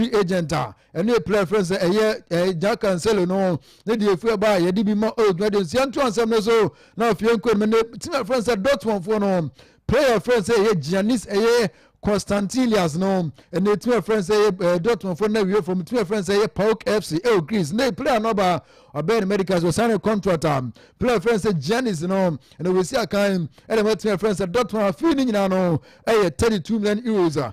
free agent a ɛno yɛ player fɛn sɛ ɛyɛ ɛyɛ Jack Cancelo no ne deɛ efi ɛba a yɛde bi ma o dwuma de nsia nto ansɛm no so na afei nko no ne team a fɛn sɛ Dortmund foɔ no player fɛn sɛ ɛyɛ Giannis ɛyɛ Constantilias no ɛna team a fɛn sɛ ɛyɛ ɛɛ Dortmund foɔ na wie fam team a fɛn sɛ ɛyɛ Pauk FC ɛwɔ Greece ne player no ba ɔbɛn ne medicals ɔsan ne contract a player fɛn sɛ Giannis no ɛna wɔsi akan ɛna ma team a fɛn sɛ Dortmund afei ne nyinaa no ɛyɛ thirty two million euros a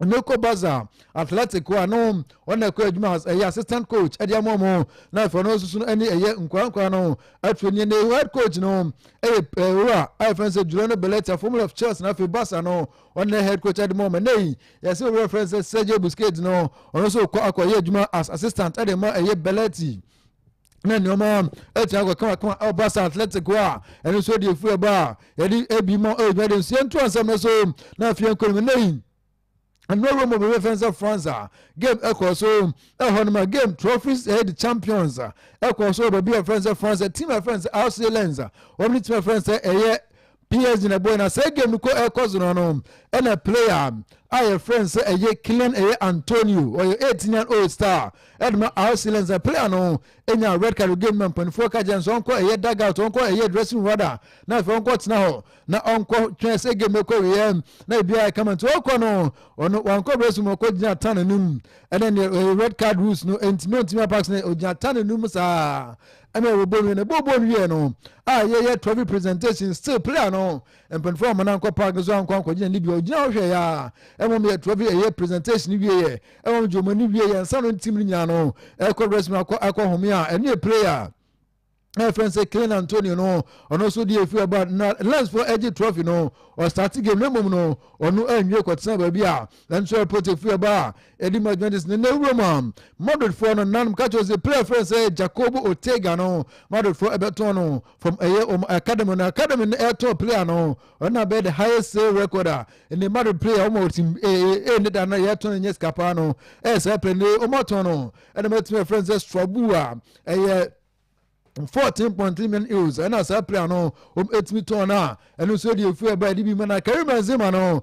na ɛkɔ baza athletic hɔ a na wɔn na ɛkɔ adwuma ɛyɛ assistant coach ɛde ama wɔn na afei ɔno nso no ɛne ɛyɛ nkora nkora no afei ne ne head coach no ɛyɛ ɛwura a yɛfrɛ sɛ Juliano Belletti former of Chelsea na afei baza no ɔne head coach ɛde ma wɔn ɛnna yi yɛsɛ owura fɛn sɛ Sergio Busquets no ɔno nso kɔ akɔyɛ adwuma as assistant ɛde ma ɛyɛ Belletti. na nneɛma atumi akɔ kamakama ɔba sɛ athletic hɔ a ɛno nso deɛ ɛfiri ɛba a yɛde ɛbi ma ɛdwuma de nso yɛnto asɛm no so na afei yɛnkɔ nim ɛnɛ yi ɛno awura mu bɛbɛ fɛn sɛ france a game ɛkɔ so ɛhɔ nom a game trophies ɛyɛ de champions a ɛkɔ so baabi a fɛn sɛ france team a fɛn sɛ arsenal lens a wɔn ne team a fɛn sɛ ɛyɛ PSG na ɛbɔe na saa game no kɔ ɛkɔ so no no ɛna player a yɛfrɛ no sɛ ɛyɛ Kylian ɛyɛ Antonio ɔyɛ 18 year old star ɛde ma RC Lens na player no nya red card game ma mpanimfoɔ ka kyerɛ no sɛ ɔnkɔ ɛyɛ dugout ɔnkɔ ɛyɛ dressing room rather na afei ɔnkɔ tena hɔ na ɔnkɔ twɛn sɛ game no kɔ wieɛ na biribiara ɛka ma nti ɔkɔ no ɔno wankɔ dressing room ɔkɔ gyina tan anim ɛna neɛ red card rules no ɛntumi ɔntumi apak sɛ ɔgyina tan anim saa Ɛna yɛwɔ bɔ nwie na bɔ bɔ nwie no a yɛyɛ trophy presentation still player no mpanyinfoɔ a wɔn nan kɔ park nso ankɔ ankɔgyina ne bia ɔgyina hɔ hwɛ yɛ a ɛma wɔn yɛ trophy ɛyɛ presentation wie yɛ ɛma wɔn gye wɔn ani wie yɛ nsa no ntim no nyinaa no ɛkɔ restroom akɔ akɔ home a ɛne yɛ player ɛfɛn sɛ Klein Antonio no ɔno nso deɛ efi ɛba na lensfoɔ ɛgye trophy no ɔstate game no mmom no ɔno anwie kɔtena baabi a ɛnso ɛpɔt efi ɛba a Edi mu adwuma de sene nnɛ wuram a Madridfoɔ no nanom ka kyerɛ sɛ player frɛ sɛ Jacobo Ortega no Madridfoɔ ɛbɛtɔn no from ɛyɛ wɔn academy no academy no ɛtɔn player no ɔno na bɛyɛ the highest sale record a ɛnɛ Madrid player wɔn a wɔtim ɛɛ ne da no yɛtɔn no nyɛ sika paa no ɛyɛ saa pɛ ne wɔn atɔn no ɛna mɛtumi ɛfrɛ sɛ Strabu a ɛyɛ fourteen point three million euros ɛna saa player no wɔn ɛtumi tɔn no a ɛno nso ɛde efu ɛba ɛde bi ma na Karim Benzema no